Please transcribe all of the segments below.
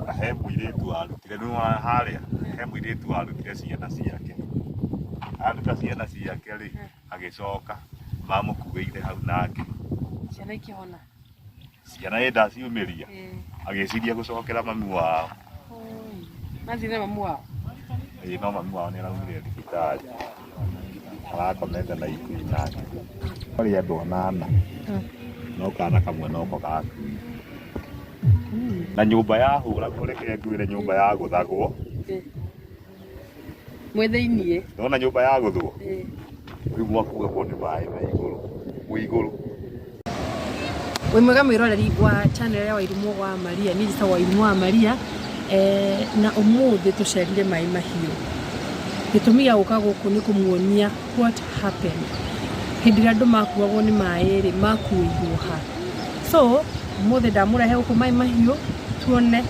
Na he mũirĩtu warutire nĩ wa harĩa he mũirĩtu warutire ciana ciake aruta ciana ciake rĩ agĩcoka mamũkuĩire hau nake ciana ikĩhona ciana ĩ ndaciumĩria Eh, agĩciria gũcokera mami wao oi. mathire mamu wao ĩĩ no mami wao nĩ araumire thibitarĩ arakomete na ikui nake kwarĩ andũ anana no kana kamwe noko gakui na nyũmba yahũra kũreke ngwĩre nyũmba ya gũthagwo mwĩ thĩiniĩ ndona nyũmba ya gũthwo rĩu mwakuagwo nĩ maĩ na igũrũ gwĩ igũrũ wĩ mwega mwĩroreri wa channel ya Wairimu wa Maria niĩ njĩtagwo Wairimu wa Maria eh, na ũmũthĩ tũcerire maĩ mahiũ gĩtũmi gĩa gũka gũkũ nĩ kũmuonia what happened hĩndĩ ĩrĩa andũ makuagwo nĩ maĩ rĩ makuĩirwo ha so ũmũthĩ ndamũrehe gũkũ maĩ mahiũ tuone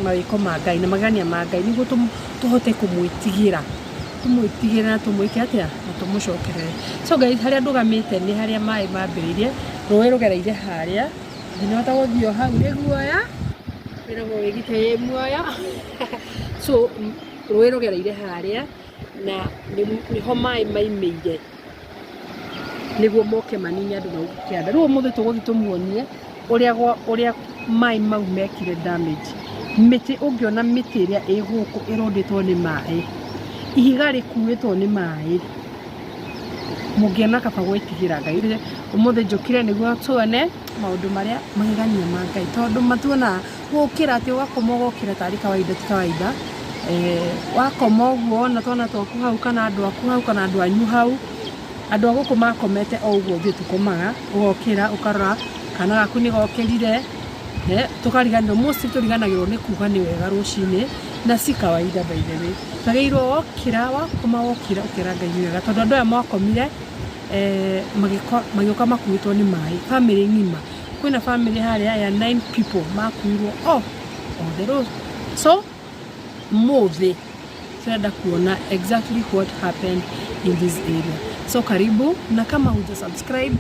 mawĩko ma Ngai na magania ma Ngai nĩguo tũm- tũhote kũmwĩtigĩra tũmwĩtigĩre na tũmwĩke atĩa na tũmũcokerere so guys harĩa ndũgamĩte nĩ harĩa maĩ mambĩrĩirie rũĩ rũgereire harĩa ndinahota gũthiĩ o hau nĩ guoya wĩragwo wĩgite wĩ muoyo so m- rũĩ rũgereire harĩa na nĩ- nĩho maĩ maimĩire nĩguo moke manine andũ mau kĩanda. Rĩu ũmũthĩ tũgũthiĩ tũmuonie ũrĩa gwa ũrĩa maĩ mau mekire damage. Mĩtĩ ũngĩona mĩtĩ ĩrĩa ĩ gũkũ ĩrũndĩtwo nĩ maĩ, ihiga rĩkuĩtwo nĩ maĩ, mũngĩona kaba gwĩtigĩra Ngai. Rĩu ũmũthĩ njũkire nĩguo tuone maũndũ marĩa magegania ma Ngai tondũ matuonaga. Gũkĩra atĩ ũgakoma ũgokĩra tarĩ kawaida ti kawaida. Wakoma ũguo wona twana twaku hau kana andũ aku hau kana andũ anyu hau, andũ a gũkũ makomete o ũguo ithuĩ tũkomaga, ũgokĩra ũkarora kana gaku nĩ gokĩrire, tũkariganĩrwo, mostly tũriganagĩrwo nĩ kuga nĩ wega rũcinĩ na si kawaida by the way. Twagĩrĩirwo wokĩra, wakoma wokĩra ũkera Ngai nĩ wega tondũ andũ aya makomire magĩũka makuĩtwo nĩ maĩ, famĩlĩ ng'ima. kwĩna family harĩa ya nine people makuirwo o othe rũ so mũthĩ tũrenda kuona exactly what happened in this area so karibu na kama huja subscribe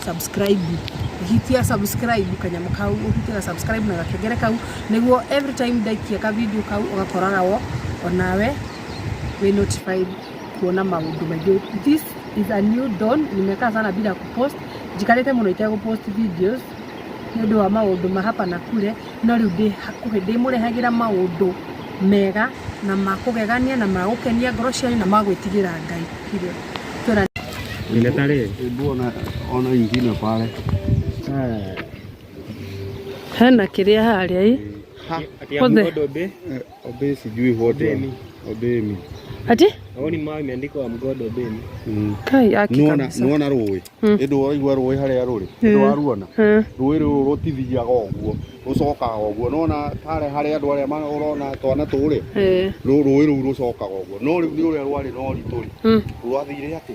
subscribe hitia subscribe kanyamå kau ũhitia subscribe na gakengere kau nĩguo every time ndaikia ka video kau ũgakoraga wo onawe wĩ notified kuona maundu maingi this is a new dawn nimekaa sana bila kupost njikarite muno itegũpost videos nĩ ũndũ wa maũndũ ma hapa na kule no rĩu ndĩ hakuhĩ ndĩmũrehagĩra maũndũ mega na ma kũgegania na ma gũkenia ngoro cianyu na ma gwĩtigĩra ngai Kire. Twĩra- Nimetaree. Hebu ona ona ingine pale. hena kĩrĩa harĩa ĩ Ati ya Othe. mkodo be. Obey sijui what Obey me. Obey me. Ati? Aoni mawe imeandikwa I'm God obey me. Mm. Kai aki Nuona kabisa. nuona rũĩ. Mm. Ĩndũ waigua rũĩ harĩa rũrĩ. Mm. Ĩndũ waruona. Mm. Rũĩ rũrũ rũtithiaga ũguo. Rũcokaga ũguo. Nuona harĩa harĩa andũ arĩa ma- ũrona twana tũrĩ. Eh. Rũ- Rũĩ rũu rũcokaga ũguo. No rĩu nĩ ũrĩa rwarĩ na ũritũ rĩ. Mm. Rwathire atĩ.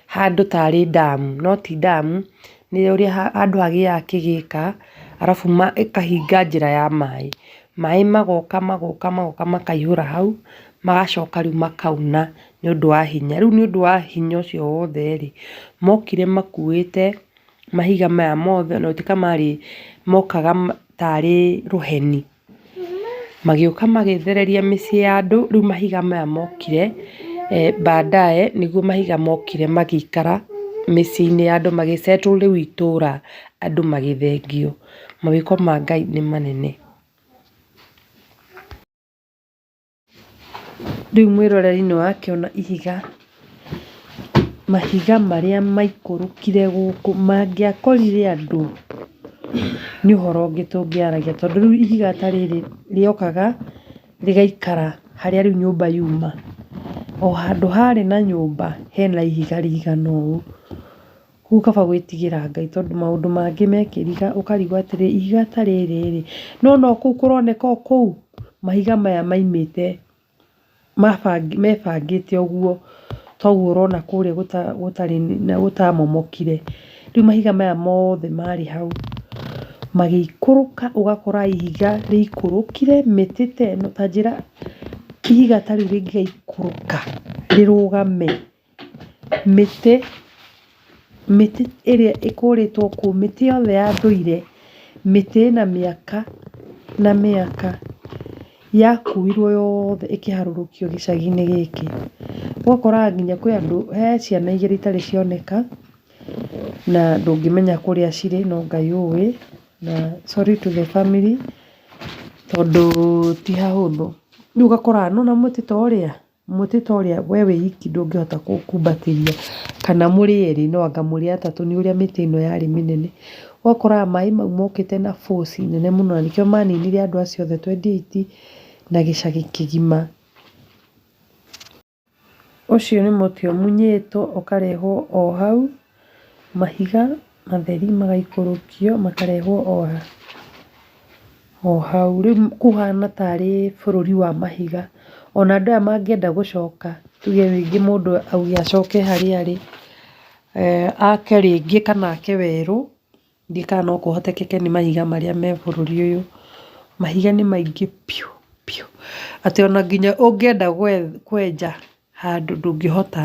handũ tarĩ ndamu no ti ndamu, nĩ ũrĩa handũ hagĩaga kĩgĩka arabu ĩkahinga njĩra ya maĩ. Maĩ magoka magoka magoka makaihũra hau magacoka rĩu makauna nĩ ũndũ wa hinya. Rĩu nĩ ũndũ wa hinya ũcio wothe rĩ, mokire makuĩte mahiga maya mothe, ona gũtuĩka marĩ mokaga tarĩ rũheni. Magĩũka magĩthereria mĩciĩ ya andũ, rĩu mahiga maya mokire baadaye nĩguo mahiga mokire magĩikara mĩciĩ-inĩ ya andũ magĩ settle rĩu itũũra andũ magĩthengio. Mawĩko ma Ngai nĩ manene. Rĩu mwĩroreri-inĩ ũyũ akĩona ihiga, mahiga marĩa maikũrũkire gũkũ mangĩakorire andũ nĩ ũhoro ũngĩ tũngĩaragia tondũ rĩu ihiga ta rĩrĩ rĩokaga rĩgaikara harĩa rĩu nyũmba yuma. O handũ harĩ na nyũmba hena ihiga rĩigana ũũ. Kũu kaba gwĩtigĩra Ngai tondũ maũndũ mangĩ mekĩriga ũkarigwo atĩrĩ ihiga ta rĩrĩ rĩ, nĩ wona o kũu kũroneka o kũu? Mahiga maya maimĩte mebangĩte ũguo toguo ũrona kũrĩa gũtarĩ na gũtamomokire. Rĩu mahiga maya mothe marĩ hau magĩikũrũka ũgakora ihiga rĩikũrũkire mĩtĩ ta ĩno ta njĩra ihiga ta rĩu rĩngĩgaikũrũka rĩrũgame. Mĩtĩ, mĩtĩ ĩrĩa ĩkũrĩtwo kũu, mĩtĩ yothe ya ndũire, mĩtĩ ĩna mĩaka na mĩaka yakuirwo yothe ĩkĩharũrũkio gĩcagi-inĩ gĩkĩ. Ũgakora nginya kwĩ andũ, he ciana igĩrĩ itarĩ cioneka na ndũngĩmenya kũrĩa cirĩ no Ngai ũĩ na sorry to the family tondũ ti hahũthũ. Rĩu ũgakora nĩwona mũtĩ ta ũrĩa? Mũtĩ ta ũrĩa we wĩ wiki ndũngĩhota kũũkumbatĩria kana mũrĩ erĩ no anga mũrĩ atatũ nĩ ũrĩa mĩtĩ ĩno yarĩ mĩnene. Ũgakoraga maĩ mau mokĩte na force nene mũno na nĩkĩo maninire andũ acio othe twendi eiti na gĩcagi kĩgima. Ũcio nĩ mũtĩ ũmunyĩtwo ũkarehwo o hau Mahiga matheri magaikũrũkio makarehwo o hau. Rĩu kũhana tarĩ bũrũri wa mahiga. Ona andũ aya mangĩenda gũcoka tuge rĩngĩ mũndũ auge acoke harĩa arĩ, ake rĩngĩ kana ake werũ. Ndiũĩ kana no kũhotekeke nĩ mahiga marĩa me bũrũri ũyũ. Mahiga nĩ maingĩ biũ biũ atĩ ona nginya ũngĩenda kwenja handũ ndũngĩhota.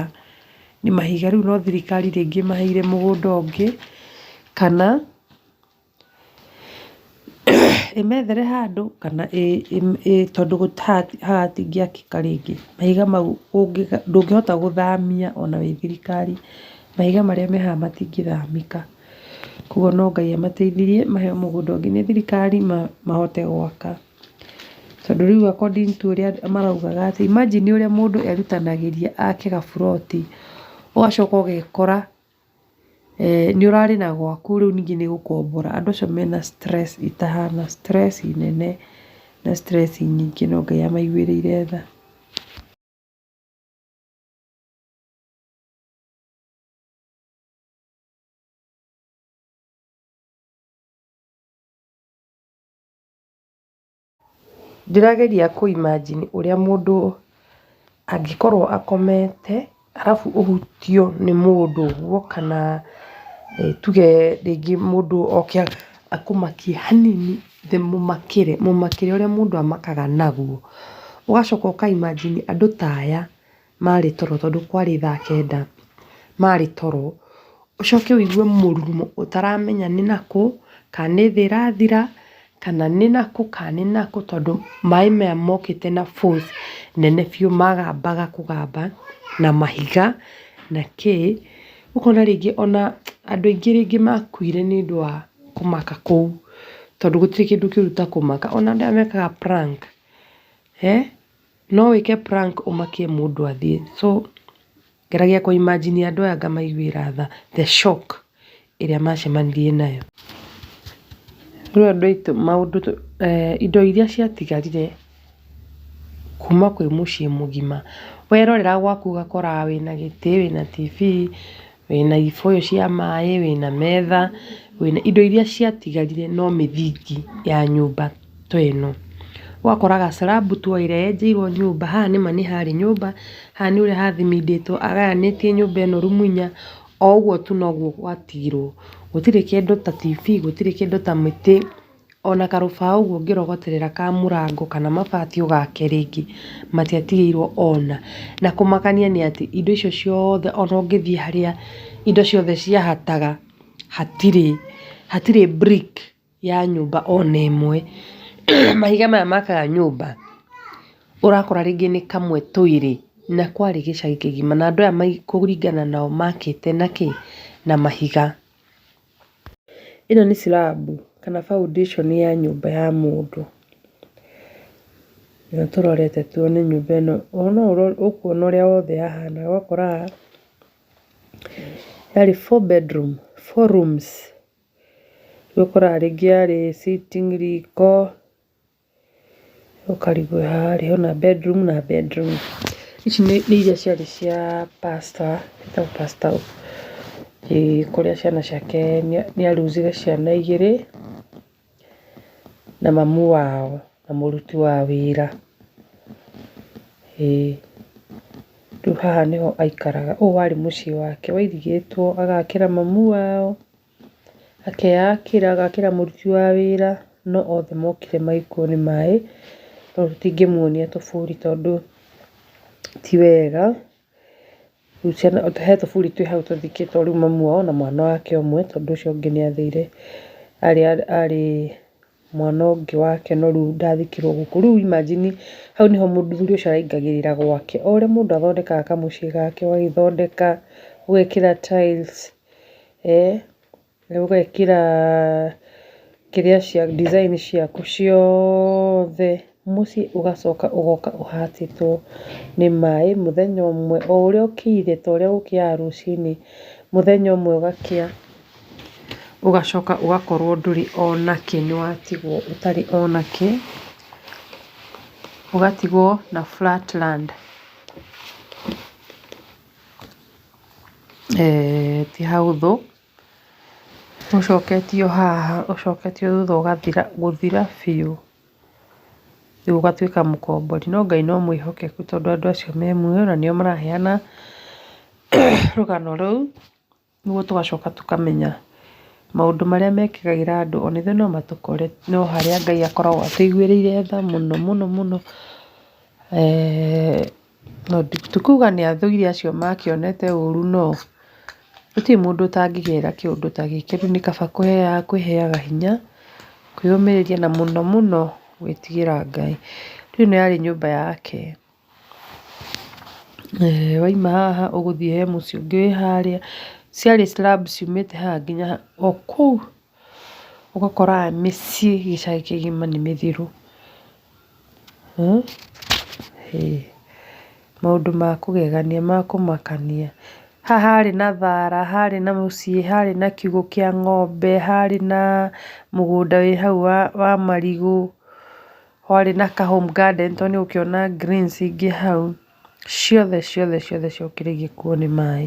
Nĩ mahiga rĩu no thirikari rĩngĩ ĩmaheire mũgũnda ũngĩ kana ĩmethere handũ kana tondũ haha hatingĩakĩka rĩngĩ. Mahiga mau ndũngĩhota gũthamia ona wĩ thirikari. Mahiga marĩa me haha matingĩthamĩka. Koguo no Ngai amateithirie maheo mũgũnda ũngĩ nĩ thirikari mahote gwaka. Tondũ rĩu according to ũrĩa maraugaga atĩ imagine ũrĩa mũndũ erutanagĩria ake gaburoti, ũgacoka ũgekora nĩ ũrarĩ na gwaku rĩu ningĩ nĩ gũkombora. Andũ acio mena stress itahana, stress nene na stress nyingĩ no Ngai amaiguĩrĩire tha. Ndĩrageria kũ imagine ũrĩa mũndũ angĩkorwo akomete arabu ũhutio nĩ mũndũ ũguo kana tuge rĩngĩ mũndũ oke akũmakie hanini mũmakĩre, mũmakĩre ũrĩa mũndũ amakaga naguo. Ũgacoka ũka imagine andũ ta aya. marĩ toro tondũ kwarĩ thaa kenda, marĩ toro, ũcoke wĩigue mũrurumo ũtaramenya nĩ nakũ, ka nĩ thĩ ĩrathira, kana nĩ nakũ, ka nĩ nakũ tondũ maĩ maya mokĩte na force nene biũ magambaga kũgamba na mahiga na kĩ, ũkona rĩngĩ ona andũ aingĩ rĩngĩ makuire nĩ ũndũ wa kũmaka kũu, tondũ gũtirĩ kĩndũ kĩũru ta kũmaka, ona andũ aya mekaga prank, he. No wĩke prank ũmakie mũndũ athiĩ so ngeragia kũ imagine andũ aya ngamaiguĩra tha the shock ĩrĩa macemanirie nayo. Rĩu andũ aitũ maũndũ indo iria ciatigarire kuma kwĩ mũciĩ mũgima, werorera gwaku ũgakora wĩna gĩtĩ, wĩna TV, wĩna ibũyũ cia maĩ, wĩna metha, wĩna indo iria ciatigarire no mĩthingi ya nyũmba ta ĩno. Ũgakora ga slab tu ũrĩa wenjeirwo nyũmba, haha nĩ ma nĩ harĩ nyũmba, haha nĩ ũrĩa hathimindĩtwo, agayanĩtie nyũmba ĩno rumu inya, o ũguo tu noguo gwatigirwo. Gũtirĩ kĩndũ ta TV, gũtirĩ kĩndũ ta mĩtĩ. ona karũbaũ ũguo ũngĩrogoterera ka mũrango kana mabati ũgake rĩngĩ matiatigĩirwo ona. Na kũmakania nĩ atĩ indo icio ciothe ona ũngĩthiĩ harĩa indo ciothe ciahataga hatirĩ hatirĩ brick ya nyũmba ona ĩmwe. Mahiga maya makaga nyũmba ũrakora rĩngĩ nĩ kamwe twĩrĩ na kwarĩ gĩcagi kĩgima na andũ aya kũringana nao makĩte na kĩ? Na mahiga. Ĩno nĩ slab kana foundation ya nyũmba ya mũndũ. Nĩyo tũrorete tuone nyũmba ĩno. No ũrore ũkuona ũrĩa wothe yahana. Ũgakora haha yarĩ four bedroom, four rooms. Rĩu ũkoraga rĩngĩ yarĩ sitting, riko, Ũkarigwo haha harĩ ho na bedroom na bedroom. Ici nĩ iria ciarĩ cia pastor, etagwo pastor ũyũ. Ĩĩ kũrĩa ciana ciake nĩ a lose -ire ciana igĩrĩ na mamu wao na mũruti wa wĩra. Ĩĩ rĩu haha nĩ ho aikaraga. Ũyũ warĩ mũciĩ wake wairigĩtwo agakĩra mamu wao. Akeyakĩra, agakĩra mũruti wa wĩra, no othe mokire magĩkuo nĩ maĩ, tondũ tũtingĩmuonia tũburi tondũ ti wega. He tũburi twĩ hau tũthikĩtwo rĩu mamu wao na mwana wake ũmwe tondũ ũcio ũngĩ nĩ athire arĩ. mwana ũngĩ wa kĩanda rĩu ndathikĩrwo gũkũ. Rĩu imagine hau nĩho mũthuri ũcio araingagĩrĩra gwake. O ũrĩa mũndũ athondekaga kamũciĩ gake, ũgagĩthondeka, ũgekĩra tiles, ũgekĩra kĩrĩa cia design ciaku ciothe. Mũciĩ ũgacoka ũgoka ũhatĩtwo nĩ maĩ mũthenya ũmwe o ũrĩa ũkĩire ta ũrĩa gũkĩaga rũcinĩ, mũthenya ũmwe ũgakĩa ũgacoka ũgakorwo ndũrĩ ona kĩ, nĩ watigwo ũtarĩ ona kĩ, ũgatigwo na flat land. Ti hahũthũ. Ũcoketio haha, ũcoketio thutha ũgathira, gũthira biũ, rĩu ũgatuĩka mũkombori. No Ngai no mwĩhokeku tondũ andũ acio me muoyo na nĩo maraheana rũgano rũu, nĩguo tũgacoka tũkamenya maũndũ marĩa mekĩkaĩra andũ o na ithuĩ no matũkore, no harĩa Ngai akoragwo atũigĩrĩire tha mũno mũno mũno. Ti kuga nĩ athuri acio makĩonete ũru no, gũtirĩ mũndũ ũtangĩgera kĩũndũ ta gĩkĩ. Rĩu nĩ kaba kwĩheaga hinya, kwĩyũmĩrĩria na mũno mũno gwĩtigĩra Ngai. Rĩu ĩno yarĩ nyũmba yake. Wauma haha ũgũthiĩ he mũciĩ ũngĩ wĩ harĩa. Ciarĩ slabs ciumĩte haha nginya o kũu. ũgakora mĩciĩ gĩcagi kĩgima nĩ mĩthiru. Maũndũ ma kũgegania, ma kũmakania. Haha harĩ na thara, harĩ na mũciĩ, harĩ na kiugũ kĩa ng'ombe, harĩ na mũgũnda wĩ hau wa marigũ, harĩ na ka home garden tondũ nĩ ũgũkĩona greens ingĩ hau, ciothe ciothe ciothe ciokire igĩkuo nĩ maĩ.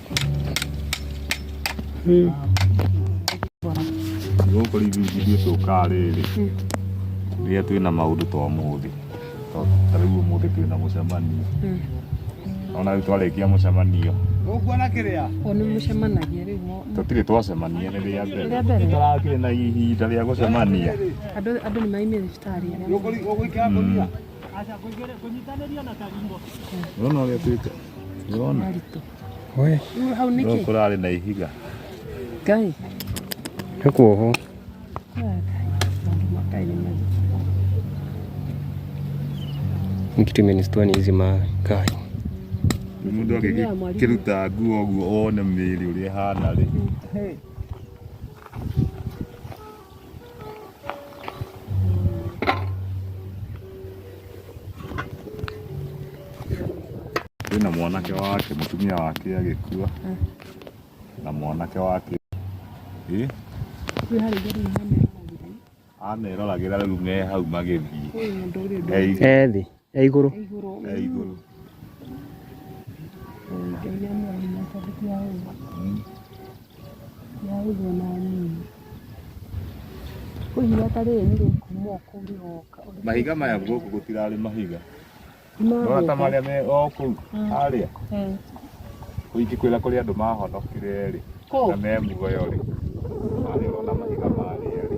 gũkũ rĩu ithuĩ tũkaga rĩrĩ rĩrĩa twĩna maũndũ twa mũthĩ ta rĩu ũmũthĩ twĩna mũcemanio ona rĩu twarĩkia mũcemanio ũkuona kĩrĩa nĩ mũcemanagia rĩu tũtirĩ twacemania nĩ rĩa mbere tũrakĩrĩ na ihinda rĩa gũcemania andũ nĩ maimire thibitarĩ ũgũikara kũnyita kũnyitanĩria na karimbo no no rĩa twĩka Ndĩrona. Maritũ. We. Rĩu hau nĩkĩ? Rĩu kũrarĩ na ihiga. Ngai. Nĩ kuohwo. Kitu imenistua ni hizi makai. Mũndũ akĩruta nguo ũguo one mĩĩrĩ ũrĩa ĩhana rĩ. kwĩna mwanake wake mũtumia wake agĩkua na mwanake wake ameroragĩra rĩu me hau magĩthiĩ ethĩ ya igũrũ ya igũrũ ya igũrũ ngeire mweri na tarĩki ya ũgwa ya ũgwa na nini kũhiga ta rĩrĩ nĩ rĩkuma kũu rĩgoka mahiga maya gũkũ gũtirarĩ mahiga ndona ta marĩa me o kũu harĩa kũu ingĩkwĩra kũrĩ andũ mahonokire rĩ na me muoyo rĩ harĩa ũrona mahiga marĩa rĩ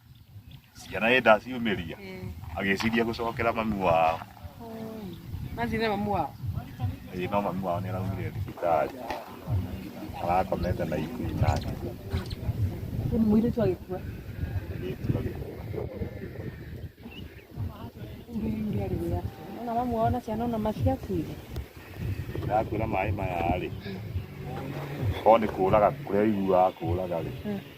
ciana ĩndĩ aciumĩria agĩciria gũcokera mami wao Mathire mamu wao. ĩĩ no mami wao nĩ araumire thibitarĩ arakomete na ikui nake Nĩ mũirĩtu agĩkua. mũirĩtu agĩkua Nginya rĩrĩa. Ona mamu wao na ciana ona maciakuire. ndakwĩra maĩ maya rĩ korwo nĩ kũraga kũrĩa aiguaga kũraga rĩ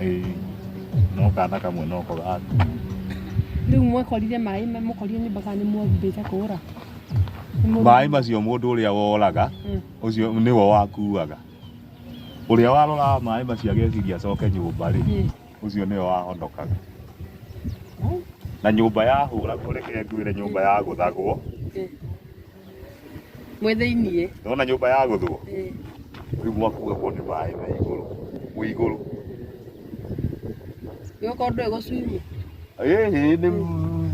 Eh, no kana kamwe no ko gaka rä u mwekorire maä mũkorire nyå mbaga nä mwombä te kå ra maĩ macio mũndũ ũrĩa woraga Mm. ũcio nĩwe wakuaga ũrĩa waroraga maĩ macio ageciria acoke nyũmba rĩ Mm. ũcio nĩwe wahonokaga na nyũmba yahũra kũreke ngwĩre nyũmba yagũthagwo Mwĩ thĩiniĩ. Ndona nyũmba ya gũthwo. Eh. Rĩu mwakuga kwa nĩ maĩ me igũrũ. Wĩ igũrũ. Yo kwa ndwe go swim. Eh, ni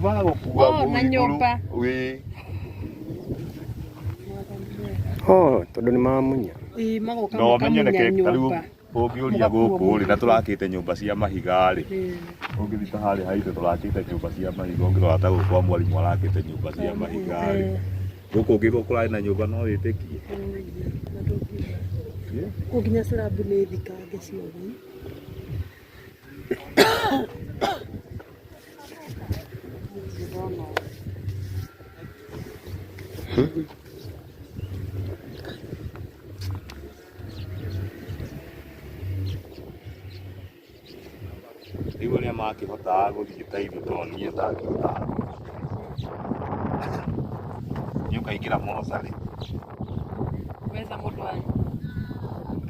mago kuga. Oh, na nyũmba. Wĩ. Oh, tondũ nĩ mamunya. Ii magoka makamunya nyũmba. Ũngĩũria gũkũ rĩ na tũrakĩte nyũmba cia mahiga rĩ, ũngĩthiĩ ta harĩa haitũ tũrakĩte nyũmba cia mahiga, ũngĩrora ta gũkũ kwa mwarimũ arakĩte nyũmba cia mahiga rĩ, gũkũ ũngĩuga kũrarĩ na nyũmba no wĩtĩkie? Kũu nginya slab nĩ thikange ciothe. rĩu arĩa makĩhotaga gũthiĩ ta ithu to niĩ ndangĩhotaga nĩ ũkaingĩra mocarĩ Weza mũndũ wanyu.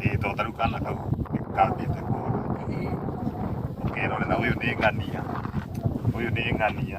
ĩĩ to tarĩu kana kau kambĩte kũra ũkerorera ũyũ nĩ ng'ania ũyũ nĩ ng'ania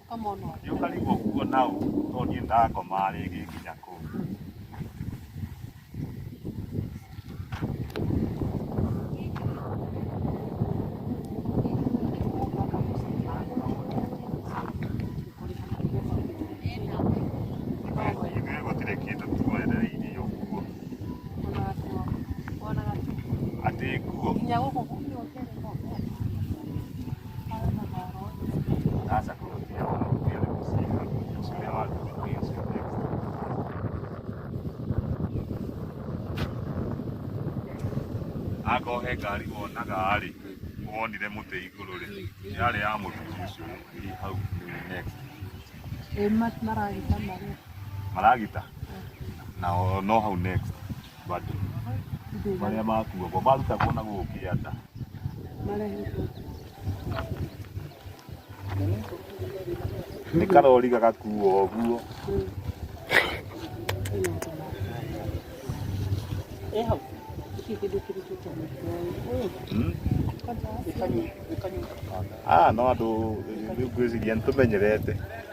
Gĩũka rĩu ũguo na ũ to niĩ ndakoma rĩngĩ nginya kũu. Ithuĩ gũtirĩ kĩndũ twerereirie ũguo atĩ nguo akohe ngari wonaga rĩ wonire mũtĩ igũrũ rĩ yarĩ ya mũthuri ũcio ĩ hau next Ĩma maragita marĩa. maragita na o- no hau next Bado. Marĩa makuo bo marutagwo na gũkĩanda. Nĩ karori gagakuo ũguo. Hmm? Ah, no andũ rĩu ngwĩciria nĩ tũmenyerete.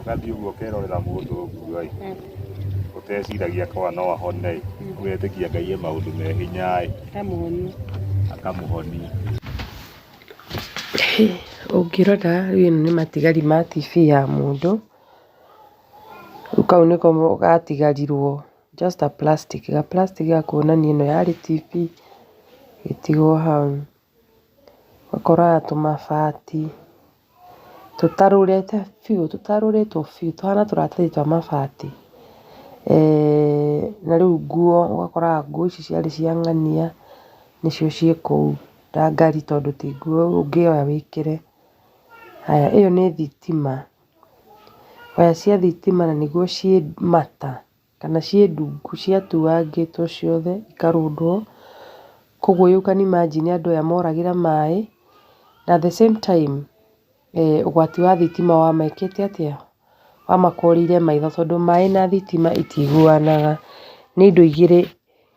ũgathiĩ ũguo ũkerorera mũndũ ũguo ĩ Mm. ũteciragia kwa no ahone ĩ Mm. ũgetĩkia ngai e maũndũ me hinya ĩ Kamũhoni. akamũhonia ũngĩrora rĩu ĩno nĩ matigari ma TV ya mũndũ, rĩu kau nĩko mo- gatigarirwo just a plastic, ga plastic ga kuonania ĩno yarĩ TV ĩtigwo hau. Ũkoraga tũmabati tũtarũrĩte biũ, tũtarũrĩtwo biũ tũhana tũratathi twa mabati. Na rĩu nguo ũgakoraga nguo ici ciarĩ cia ng'ania nĩcio ciĩ kũu ndangari tondũ ti nguo ũngĩoya wĩkĩre. Haya ĩyo nĩ thitima, waya cia thitima na nĩguo ciĩ mata. kana ciĩ ndungu ciatuangĩtwo ciothe ikarundwo, koguo you can imagine andũ aya moragĩra maĩ, na at the same time ũgwati wa thitima wamekĩte atĩa? Wamakorire maitho tondũ maĩ na thitima itiguanaga, nĩ indo igĩrĩ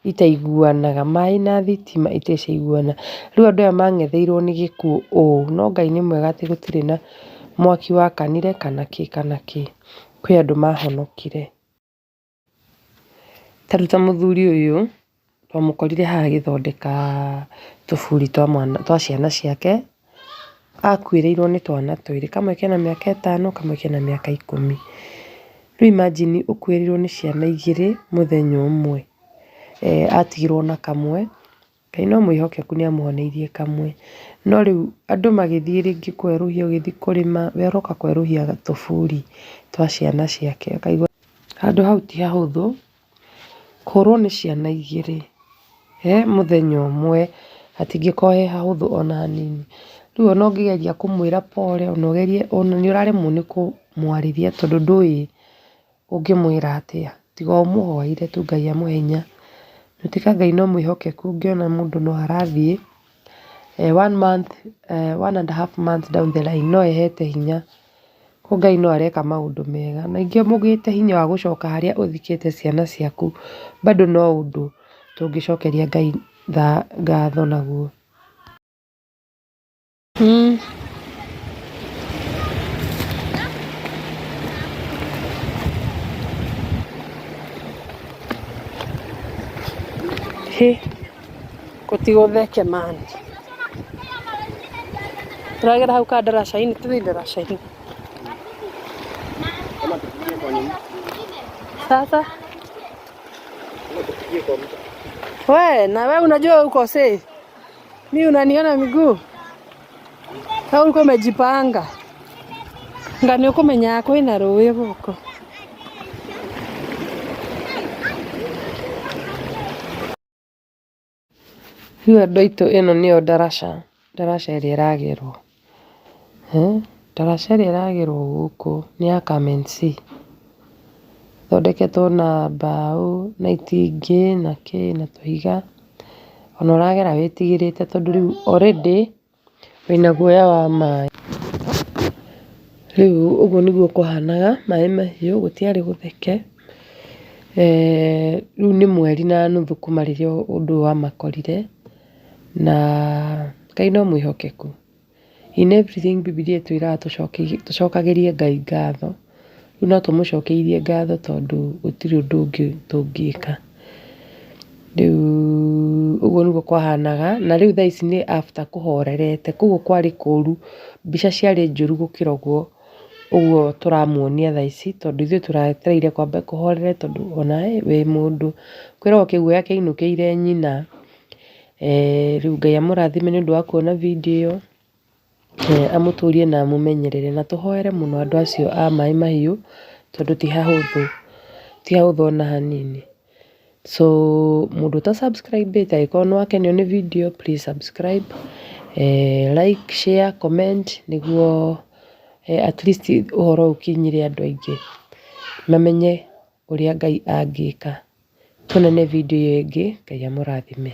itaiguanaga, maĩ na thitima iteciguana. Rĩu andũ aya mang'etheirwo nĩ gĩkuũ ũũ, no Ngai nĩ mwega atĩ gũtirĩ na mwaki wakanire kana kĩ kana kĩ. Kwĩ andũ mahonokire. Ta rĩu ta mũthuri ũyũ, twamũkorire haha agĩthondeka tũburi twa mwana twa ciana ciake akuĩrĩirwo nĩ twana twĩrĩ, kamwe kena mĩaka ĩtano, kamwe kena mĩaka ikũmi. Rĩu imagine ũkuĩrĩirwo nĩ ciana igĩrĩ mũthenya ũmwe, atigirwo na kamwe, Ngai no mwĩhokeku nĩ amũhonoirie kamwe. No rĩu andũ magĩthiĩ rĩngĩ kwerũhia ũgĩthiĩ kũrĩma, we ũroka kwerũhia tũburi twa ciana ciake, ũkaigua handũ hau ti hahũthũ. Kũrwo nĩ ciana igĩrĩ he mũthenya ũmwe hatingĩkorwo he hahũthũ ona hanini. Rĩu ona ũngĩgeria kũmwĩra pole ona ũgerie ona nĩ ũraremwo nĩ kũmwarĩria tondũ ndũĩ ũngĩmwĩra atĩa tiga ũmũhoere tu Ngai amũhe hinya. Nĩ ũndũ wa Ngai no mwĩhokeku ũngĩona mũndũ no arathiĩ. one month, one and a half months down the line no ĩhete hinya. Kũoguo Ngai no areka maũndũ mega. Ningĩ mũgĩte hinya wa gũcoka harĩa ũthikĩte ciana ciaku bado no ũndũ tũngĩcokeria Ngai ngatho naguo. Kotigo theke man. Turagera hau ka ndaraca-inĩ, tũthiĩ ndaraca-inĩ. Sasa we na we unajua uko safe, mi unaniona miguu au uko umejipanga ngani ukumenya kwina rũĩ gũkũ Rĩu andũ aitũ ĩno nĩyo ndaraca, ndaraca ĩrĩa ĩragerwo. Ndaraca ĩrĩa ĩragerwo gũkũ nĩ ya kamency. Ĩthondeketwo na mbaũ na itingĩ na kĩ na tũhiga. Ona ũragera wĩtigĩrĩte tondũ rĩu already Wĩna guoya wa maĩ. Rĩu ũguo nĩguo kwahanaga, maĩ mahiũ, gũtiarĩ gũtheke. Rĩu nĩ mweri na nuthu kuma rĩrĩa ũndũ ũyũ wamakorire, na Ngai no mwĩhokeku. In everything Bibilia ĩtwĩraga tũcokagĩrie Ngai ngatho. Rĩu no tũmũcokeirie ngatho tondũ gũtirĩ ũndũ ũngĩ tũngĩka. Rĩu ũguo nĩguo kwahanaga, na rĩu thaa ici nĩ after kũhorerete. Kũguo kwarĩ kũũru, mbica ciarĩ njũru gũkĩra ũguo ũguo tũramuonia thaa ici tondũ ithuĩ tũretereire kwambe kũhorere tondũ ona wĩ mũndũ. Kwĩragwo kĩguoya kĩainũkĩire nyina. Rĩu Ngai amũrathime nĩ ũndũ wa kuona video ĩyo. Ee amũtũrie na amũmenyerere na tũhoere mũno andũ acio a Maĩ Mahiũ tondũ ti hahũthũ, ti hahũthũ ona hanini. So mũndũ ũta subscribe ĩte angĩkorwo nĩ wakenio nĩ video please subscribe, like, share, comment nĩguo at least ũhoro ũyũ ũkinyĩre andũ aingĩ mamenye ũrĩa Ngai angĩka. Tuonane video ĩyo ĩngĩ, Ngai amũrathime.